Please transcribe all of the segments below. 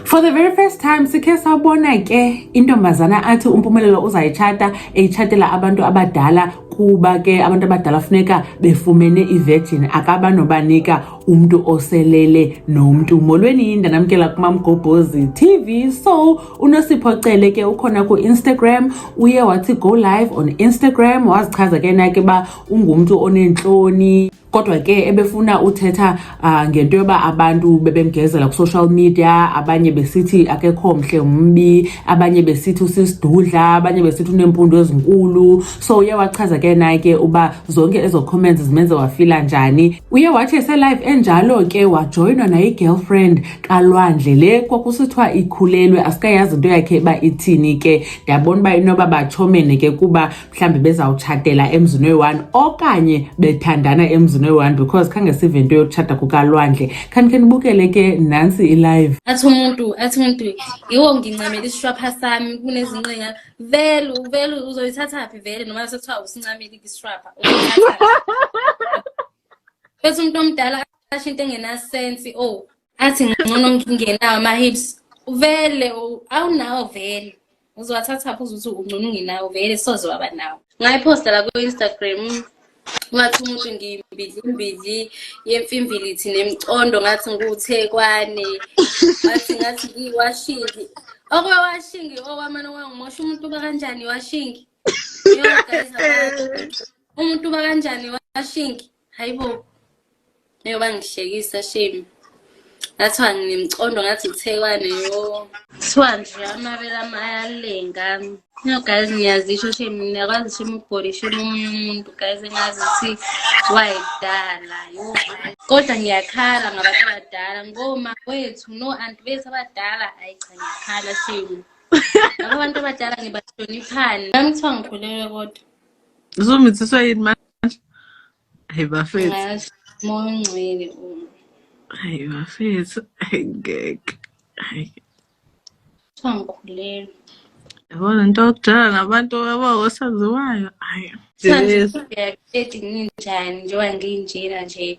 For the very first time sikhe sabona ke intombazana athi uMpumelelo uzayitshata eyitshatela abantu abadala kuba ke abantu abadala funeka befumene ivirgin akaba nobanika umntu oselele nomntu molweni yinda namkela kumamgobhozi tv so unosipho cele ke ukhona ku-instagram uye wathi go live on instagram wazichaza ke nake uba ungumntu oneentloni kodwa ke ebefuna uthetha uh, ngento yoba abantu bebemgezela ku-social media abanye besithi akekho mhle umbi abanye besithi usisidudla abanye besithi unempundu ezinkulu so uye wachaza ke naye ke uba zonke ezo comments zimenze wafila njani uye wathi eselive enjalo ke wajoyinwa nayi-girlfriend kalwandle le kwakusithiwa ikhulelwe asikayazi into yakhe uba ithini ke ndiyabona uba inoba batshomene ke kuba mhlawumbi bezawutshatela emzini oyi-one okanye bethandana emzini oyi-one because khange sive into yokutshata kukalwandle khanikhe nibukele ke nantsi ilive athi umuntu athi umuntu yiwo ngincamela isishwapha sami kunezinqinga vele vele uzoyithatha phi vele noma sekuthiwa usincameli kisishwapha bese umuntu omdala asho into engenasensi o oh, athi ngcono ngingenawo ama-hips vele awunawo vele uzowathatha phuza ukuthi ungcono ungenawo vele soze waba nawo ngayiphosta la ku-instagram ngathi umuntu ngimbidli imbidli yemfimbilithi nemcondo ngathi ngikuthekwane ngathi ngathi ngiwashingi okwewashingi okwamane kwangimosha umuntu uba kanjani washingi umuntu uba kanjani washingi Hayibo. Ngeke bangihlekisa shame. Ngathiwa ngimcondo ngathi uthekwane yo. Kuthiwa nje amabele ama ayalenga. No guys ngiyazisho shame ngiyakwazi shame ukubhori shame omunye umuntu guys engazi ukuthi wayedala yo. Kodwa ngiyakhala ngabantu abadala ngoma wethu no anti bethu abadala ayi cha ngiyakhala shame. Laba bantu abadala ngibahloniphani. Nami kuthiwa ngikhulelwe kodwa. Uzomithiswa yini manje? Hey bafethu. Mongcwele uma. Hey bafethu. Hey ngeke. Hey. Sangikhulelwe. Yabona into okudala nabantu abawosaziwayo. Hayi. Sangikhulelwe ninjani njengoba nginjena nje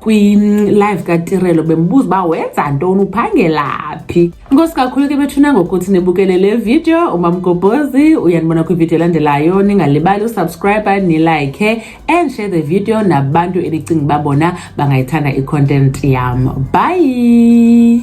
kwi-live katirelo bembuza uba wenza ntoni uphangelaphi inkosi kakhulu ke bethuna ngokuthi nibukele le video umamgobhozi uyanibona kwividiyo elandelayo ningalibali usubscribe nilike and share the video nabantu enicinga uba bona bangayithanda i-content yam bye